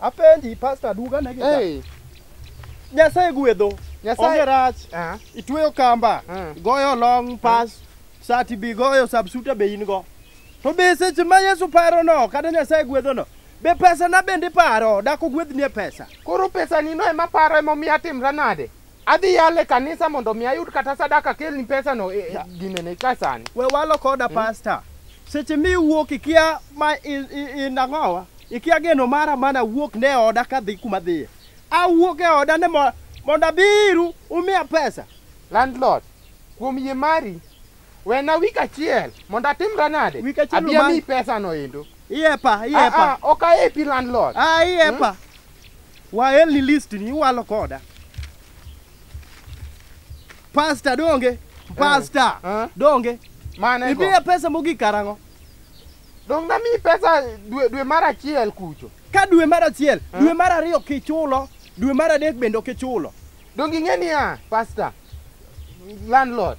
Apenji pasta duga ne gita. Hey. Nyasaye gwedho. Nyasaye- Onge rach. Ah. Itweyo kamba. Ah. Goyo long pass. Sati bi goyo subsuta be in go. To be seche ma Yesu paro no kata Nyasaye gwedho no. Be pesa na bende paro dako gwedhni e pesa. Koro pesa ni no ema paro ema omiyo atimra nade? Adhi yale e kanisa mondo mi ayud kata sadaka akelni pesa no e, e, ginene ka sani. We walo koda hmm? pastor. Seche mi wuok ikia ma inang'owa, ikia geno mara mana wuok ne oda ka dhi kuma dhiye. Awuok e oda ne mondo abiru umiya pesa. Landlord, kuom yie mari, wena wik achiel mondo atimra nade? Wik achiel Abia mi pesa no endo. Iyepa, iyepa. Ah, ah, ok ayepi landlord. Ah, iyepa. Hmm? Waelni list ni iwalo koda. Pasta donge? Pasta Eh? donge? Mane go. Ibiye pesa mogik karang'o? Dong na mi pesa dwe dwe mar achiel kucho. Ka dwe mar achiel, Eh? dwe mar ariyo kichulo, dwe mar adek bende ok ichulo. Dong ing'e niya, pasta. Landlord.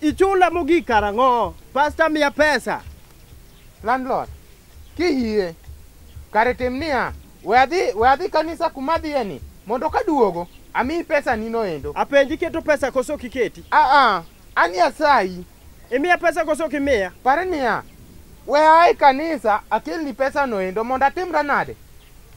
Ichula mogik karang'o? Pasta miya pesa. Landlord, kiyie kare tim niya, we adhi we adhi kanisa kuma adhiye ni mondo kaduogo amiyi pesa nino endo. Apenji keto pesa koso kiketi? Ah ah, An Nyasayi. Imiya pesa koso ok imiya? Pare niya, we ae kanisa akelni pesa noendo mondo atimra nade?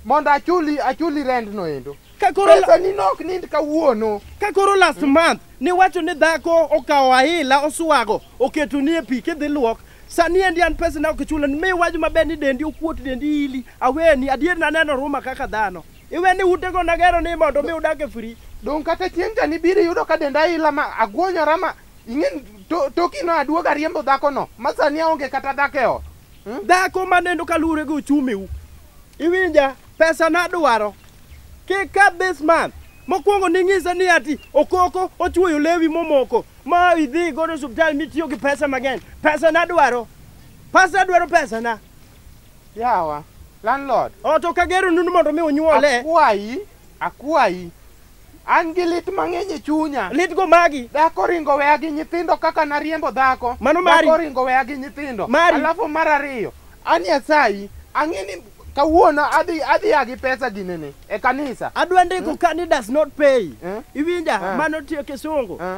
Mondo achuli achuli rent noendo. Kakoro pesa ni nok nind kawuono. Kakoro last hmm. month niwacho ni dhako okawo ahila oswago oketo ni e pi kidhi luok sani endi an pesa na ok chulo ni mi waju maber ni dendi okuot dendi ili aweni adier naneno ruma kaka dhano Iwe ni utego nagero ni mondo mi udag e free. Dong' kata chieng' cha nibiro iyudo ka denda ila ma agwonyora ma ing'e to, tokino aduog ariembo dhakono ma sani aonge kata dhako e ot. Hmm? Dhako maneno kaluwore gi uchumiu. Iwinja pesa nadwaro. Kik ka this month. Mokwongo ning'isa ni ati okoko ochuoyo lewi momoko ma idhi godo e osiptal mitiyo gi pesa mang'eny. Pesa nadwaro. Pesa adwaro pesa na. Yawa, landlord. Oh, to kagero nundu mondo mi unyuole. Akwayi, akwayi. An gi lit mang'eny e chunya. Lit go magi. Dhako ringo weya gi nyithindo kaka nariembo dhako. Mano mari. Dhako ringo weya gi nyithindo. Mari. Alafu mar ariyo, an Nyasayi, ang'e ni kawuono adhi adhi agi pesa ginene e kanisa. Adwa ndiko hmm? ka ni does not pay. Eh? Iwinja, eh? mano tiyo kisungu. Eh?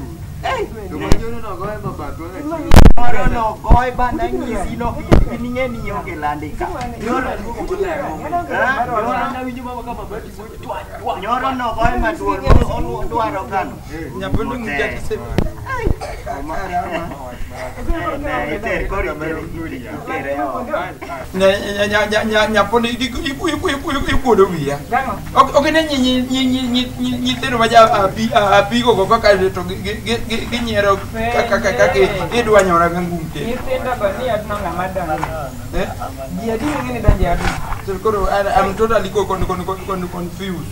Moro no goy bana nyisi no in ing'e ni ionge lande ka. Nyoro nyoro no goy maduong' odwaro kano. Nyabondo ng'inja kise. nyaponi ikuodo wiya okine nyithindo ma apigo go kaka to ginyiero kaka idwanyora ga ngum te koro am totally confused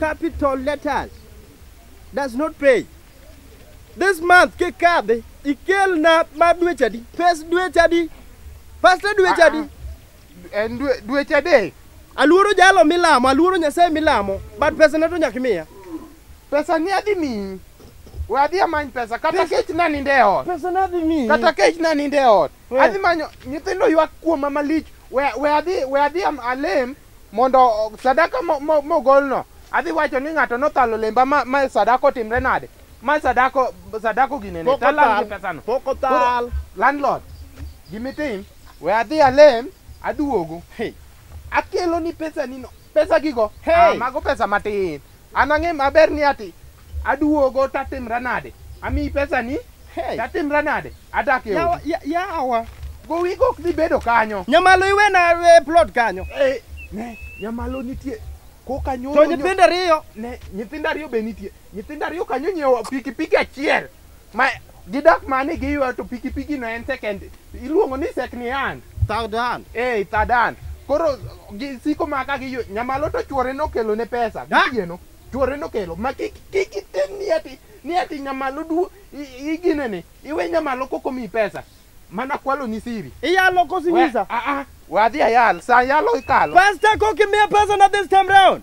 Capital letters does not pay. This month kikadhi ikelna ma dweche adi? Pes dweche adi? Pastor dweche adi? En dwe- dweche adek. Aluoro jalo milamo, aluoro Nyasaye milamo, but pesa na to nyaka imiya. Pesa ni adhi miyi. We adhi amany pesa kata kech na ninde e ot. Pesa na adhi miyi. Kata kech na ninde e ot. Eh. Adhi manyo nyithindo ywak kuoma malich. We we adhi we adhi am- alem mondo sadaka mogolno adhi wacho ni ng'ato nothalo lemba ma, ma sadaka otimre nade ma sadako sadako ginene talal gi pesano pok othal landlord gimitim we adhi alem aduogo hey. akelo ni pesa nino pesa gigo hey. ah, mago pesa matin An ang'e maber ni ati aduogo tatimra nade? Amiyi pesa ni? Hey. Tatimra nade? Adak e odi. Yawa, ya- yawa. Gowi gok dhi bedo kanyo. Nyamalo iwena e plot kanyo. Eh, ne, nyamalo nitie. Koka nyoro. To nyithindo ariyo. Ne, nyithindo ariyo be nitie. Nyithindo ariyo kanyo nyiewo pikipiki achiel. ma gidak mane giywa to pikipiki no en second iluongo ni second hand third hand eh third hand koro gi- siko ma ka giyo nyamalo to chuore nokelo ne pesa Da. gichieno chuore nokelo ma kik kik itin ni ati ni ati nyamalo du i- igine ni iwe nyamalo koko mi pesa mana kwalo ni siri iyalo We- kosinyisa ah ah wadhi ayal sa yalo ikalo pasta kokimiya pesa na this time round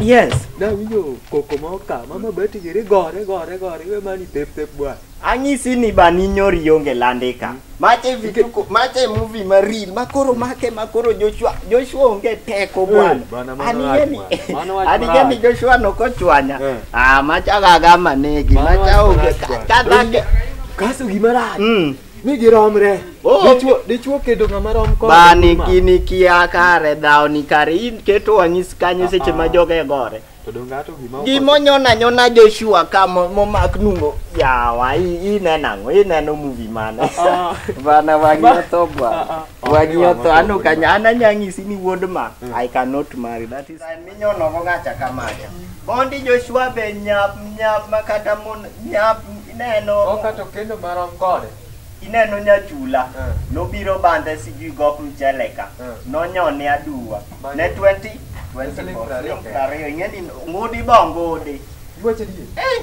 Yes. Da winjo koko ma oka, mama bati giri gore gore gore we mani tep tep bwa. Anyisi ni bani nyori onge landika. Mache vituko, mache movie ma real, makoro make makoro Joshua, Joshua onge teko Eh, bwana. bwana, mano Anige wach ni, mara. Mano wach anige mara. ni Joshua nokochwanya. Eh. Ah, macha gaga manegi, Mano macha wach onge marach bwana. kadhake. Kaso gimara. Mm. ni giromre Oh. Dichwo- dichwo kedo ng'ama rom kode Bani ma. kini kia kare dhao ni kare in keto wang'is kanyo seche ma joge gore. to donge ato gima Gimo nyona nyona Joshua ka mo- momak nungo yawa i- ineno ang'o ineno movie mane Ah, bana wangi Ba- otho ah, bwana ah. wangi otho ano kanya ananyang'isi ni wuod ma I cannot marry that is nyono go ngacha kamacha bondi joshua be nyap nyap makata mon nyap ineno okato kendo marom kode ineno nyachula Eh. nobiro bande sijui gop mchele ka Eh. nonyone aduwa Mano. ne 20 Siling prariyo kende. prariyo ing'eni ngudi bo ngudi Iwacho adier. Eh,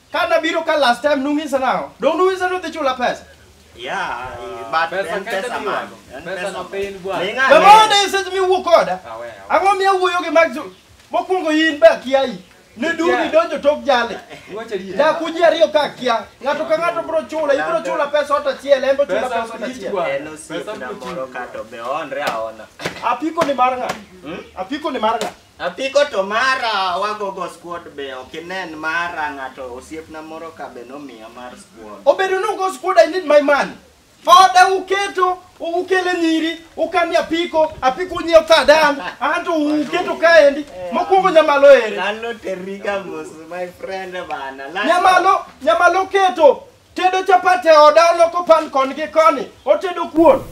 Ka nabiro ka last time nung'isa nang'o? Dong' nung'isa ni udhi chula pesa? Yeah, but Pesa en kende pesa man. miwago. En Pesa pesa nopiny man. bwana. Ing'ane. Be mondo e seche miwuo koda? Awe, awe. Ang'o miya wuoyo gi mag Zulu? Mokwongo in be akia i. Ne duri Akia. donjo tok jale. Iwacho adier. Dak uji ariyo ka akia. Ng'ato ka ng'ato bro chula, ibro chula pesa ot achiel, en bo chula Pesa pesa ot lich achiel. bwana. En osiepna moro kato be oonre aona. Apiko ni mar ng'a? Hmm? Apiko ni mar ng'a? Apiko to mara wagogo squad be ok inen mara ng'ato osiepna moro ka be nomiya mar squad. Obedo ni ugo squad I need my money. Oda uketo ukele nyiri ukani apiko apiko unyiewo kadan anto uketo kaendi mokwongo nyamalo ere. Lalo teriga mos my friend bana. Lalo. Nyamalo nyamalo keto Tedo chapat e oda oloko pan kon gi koni, otedo kuon.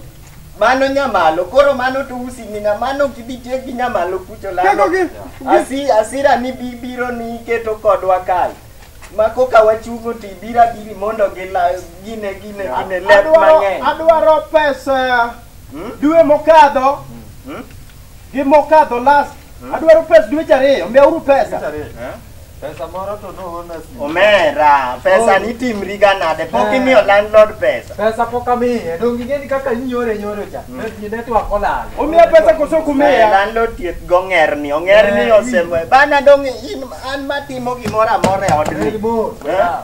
Mano nyamalo, koro mano to usi mina, mano ok ibi tiek gi nyamalo kucho lalo. Keko gi- Asi, asira ni bi- biro ni iketo kodwa kal. Ma koka wachungo to ibira biri mondo gila, gine, gine, gine lep Adwaro, mang'eny. adwaro pesa dwe mokadho. gi mokadho last adwaro pes dweche ariyo miyauru pesa Pesa moro to nohona simu. omera pesa ni timriga nade pok imiyo landlord pesa Pesa pok amiye, donge ing'eni kaka inyore nyore cha. Pesa network olal. umiya pesa koso Eh, kumiya landlord thieth go ng'erni ong'erni Eh, osemo bana dong in an matimo gimoro amora e odni Red Bull. Eh? Yeah.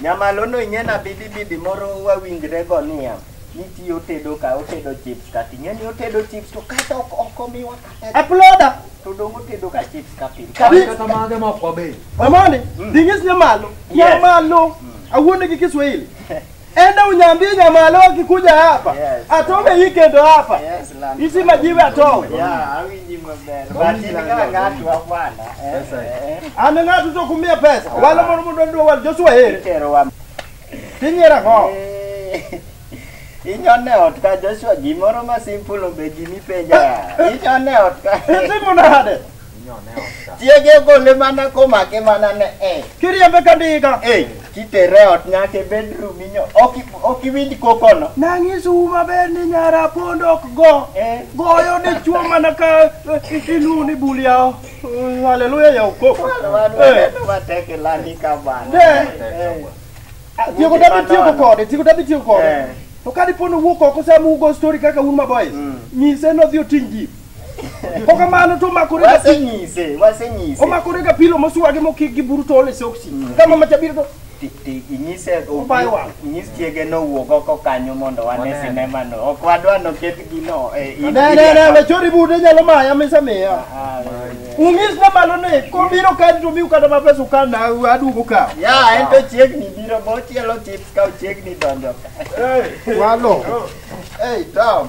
Nyamalono inyena bibi bibi moro wawinjre go niya niti otedo ka otedo chips kati ng'eni otedo chips to kata ok ok omiwa kata Aploda. to dong otedo ka chips ka pile Kabi- Kata mage ma ok wabe. Amoni, dingis nyamalo. Yes. Nyamalo. Awuonde gi Kiswahili. Enda unyambie nyamalo akikuja hapa. Yes. Atome hii kendo hapa. Yes. Isi majiwe ato. Yeah, awinji maber. But in ka ng'ato akwala. Eh. An ng'ato to kumia pesa. Wala mondo mondo ndo wal Joshua here. Itero wa. Tinyera go. Eh. Inyone ot ka Joshua gimoro ma simple obe gimi penja. Inyone ot ka. Isi munade. Chiege gole mana komake mana ne e. Kiriembe ka ndiga. Eh, kitere e ot nyaka e bedroom inyo. Ok ok iwinj kokono. Nanyisu maber ni nyara pond ok go. Eh. Goyo ne chuo mana ka eh, iluwo ni bul yawo. Mm, Haleluya ya ukoko. Eh. Wateke lani ka bana. Eh. Eh. Tieko dabi tieko kode, tieko dabi tieko kode. Eh. To ka dipo ni owuok oko sama ugo story kaka un maboys, nyise nodhi oting' ji. Pokamano to makore ga pilo. Wasenyise, wasenyise. Omakore ga pilo moswagi mokik gi buru tole soksi. Kama machabiro to Ti- ti- Inyise Obayo wang'. inyis chiege nowuog oko kanyo mondo wane Waneno. sinema no. Ok wadwa noket gino. eh, in- ne ne ne we chori bude nyalo maya misa miya. Ah, Ungis na malo ne kobiro kadi to miu kata mapesa ukan na adugo ka. Ya, en to chiegni biro bo chielo chips ka chiegni donjo. Walo. Hey, Tom.